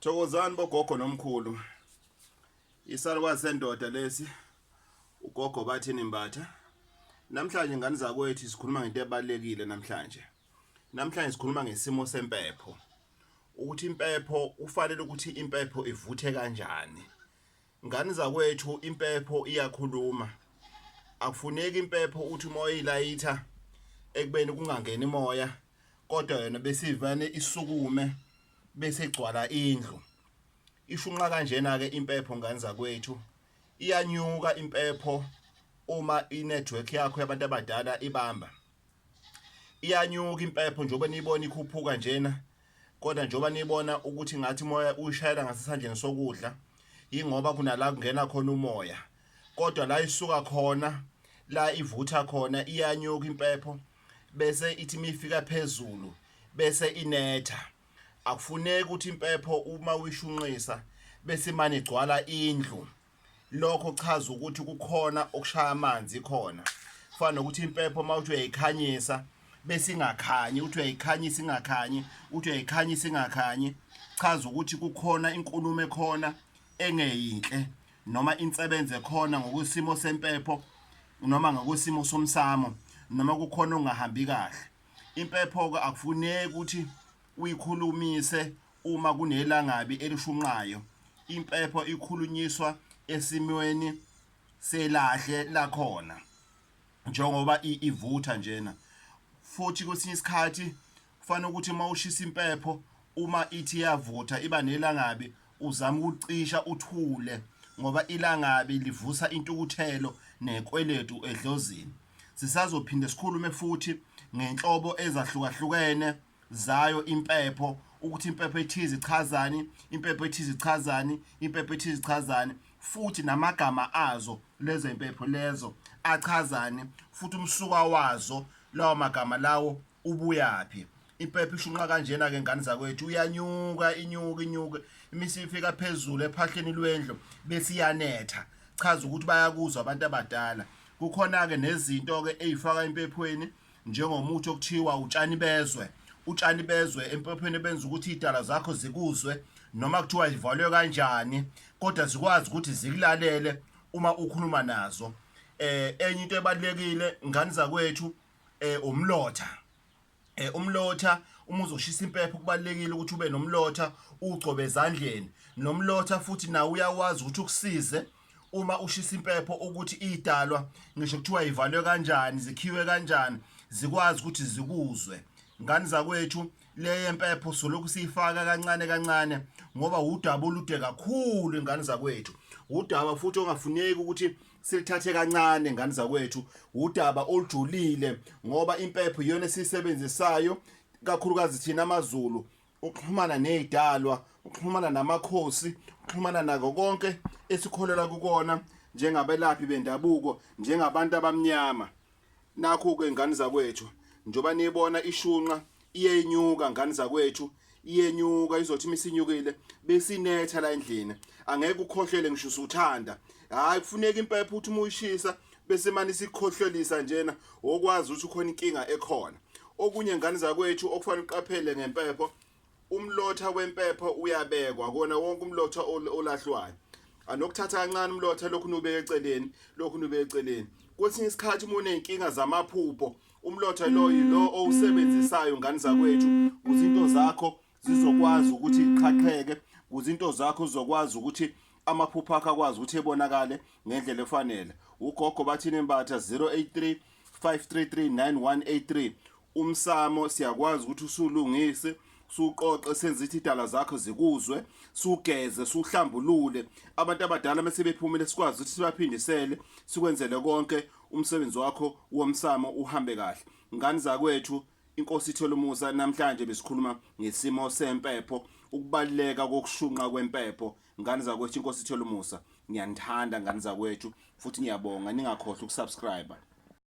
Thokozani bogogo nomkhulu. Isalukwazi sendoda lesi ugogo bathini mbatha. Namhlanje ngani zakwethu sikhuluma ngento ebalekile namhlanje. Namhlanje sikhuluma ngesimo sempepho. Ukuthi impepho ufanele ukuthi impepho ivuthe kanjani. Ngani zakwethu impepho iyakhuluma. Akufuneki impepho uthi uma uyilayitha ekubeni kungangeni moya kodwa yona besivane isukume bese igcwala indlu. Ishunqa kanjena ke impepho ngani zakwethu. Iyanyuka impepho uma inetwork yakho yabantu abadala ibamba. iyanyuka impepho njengoba niyibona ikhuphuka njena kodwa njengoba niyibona ukuthi ngathi umoya uyishayela ngasesandleni sokudla yingoba kunala kungena khona umoya kodwa la isuka khona la ivutha khona iyanyuka impepho bese ithi mifika phezulu bese inetha akufuneki ukuthi impepho uma uyishunqisa bese imane igcwala indlu lokho kuchaza ukuthi kukhona okushaya amanzi khona fana nokuthi impepho uma uthi uyayikhanyisa bese ingakhanyi uthi uyayikhanyisa ingakhanyi uthi uyayikhanyisa ingakhanyi chaza ukuthi kukhona inkulumo ekhona engeyinhle noma insebenze khona ngokusimo sempepho noma ngokusimo somsamo noma kukhona ongahambi kahle impepho-ke akufuneki ukuthi uyikhulumise Uma kunelangabi elishunqayo, impepho ikhulunyiswa esimweni selahle lakhona njengoba ivutha njena futhi kwesinye isikhathi kufanele ukuthi uma ushisa impepho uma ithi yavutha iba nelangabi uzama ukucisha uthule ngoba ilangabi livusa intukuthelo nekweletu edlozini sisazophinde sikhulume futhi ngenhlobo ezahlukahlukene zayo impepho ukuthi impepho ethize ichazani impepho ethize ichazani impepho ethize ichazani futhi namagama azo lezo impepho lezo achazani futhi umsuka wazo lawo magama lawo ubuyaphi impepho ishunqa kanjena ke ngane zakwethu uyanyuka inyuka inyuka imisi ifika phezulu ephahleni lwendlu bese iyanetha chaza ukuthi bayakuzwa abantu abadala kukhona ke nezinto ke ezifaka empephweni njengomuthi okuthiwa utshani bezwe utshani bezwe empopheni benza ukuthi idala zakho zikuzwe noma kuthiwa ivalwe kanjani kodwa zikwazi ukuthi zikulalele uma ukhuluma nazo eh enye into ebalekile ngani zakwethu eh umlotha eh umlotha uma uzoshisa impepho kubalekile ukuthi ube nomlotha ugcobe ezandleni nomlotha futhi nawe uyawazi ukuthi ukusize uma ushisa impepho ukuthi idalwa ngisho kuthiwa ivalwe kanjani zikhiwe kanjani zikwazi ukuthi zikuzwe ngani zakwethu le yempepho solokhu siyifaka kancane kancane ngoba wudaba olude kakhulu ingane zakwethu wudaba futhi ongafuneki ukuthi silithathe kancane ngane zakwethu wudaba olujulile ngoba impepho iyona esiyisebenzisayo kakhulukazi thina amaZulu ukuxhumana nezidalwa ukuxhumana namakhosi ukuxhumana nako konke esikholelwa kukona njengabelaphi bendabuko njengabantu abamnyama nakho ke ngani zakwethu njoba niyibona ishunqa iyenyuka ngani zakwethu iyenyuka izothi imisinyukile besinetha la endlini angeke ukhohlele ngisho usuthanda hayi kufuneka impepho uthi uma uyishisa bese mani sikhohlelisa njena okwazi ukuthi ukhona inkinga ekhona okunye ngane zakwethu okufanele uqaphele ngempepho umlotha wempepho uyabekwa kona wonke umlotha olahlwayo anokuthatha kancane umlotha lokhu nubeke eceleni lokhu nubeke eceleni kwesinye isikhathi uma uney'nkinga zamaphupho umlotha lo yilo owusebenzisayo ngane zakwethu kuzinto zakho zizokwazi ukuthi iqhaqheke kuze into zakho uzokwazi ukuthi amaphupho akho akwazi ukuthi ebonakale ngendlela efanele ugogo bathini embatha 083 5339183 umsamo siyakwazi ukuthi usulungise suqoqe senze ithi idala zakho zikuzwe sugeze suhlambulule abantu abadala mase bephumile sikwazi ukuthi sibaphindisele sikwenzele konke umsebenzi wakho womsamo uhambe kahle ngani zakwethu Inkosi Thelumusa namhlanje besikhuluma ngesimo sempepho ukubaluleka kokushunqa kwempepho ngane zakwethu inkosi Thelumusa ngiyanithanda ngane zakwethu futhi ngiyabonga ningakhohlwa ukusubscribe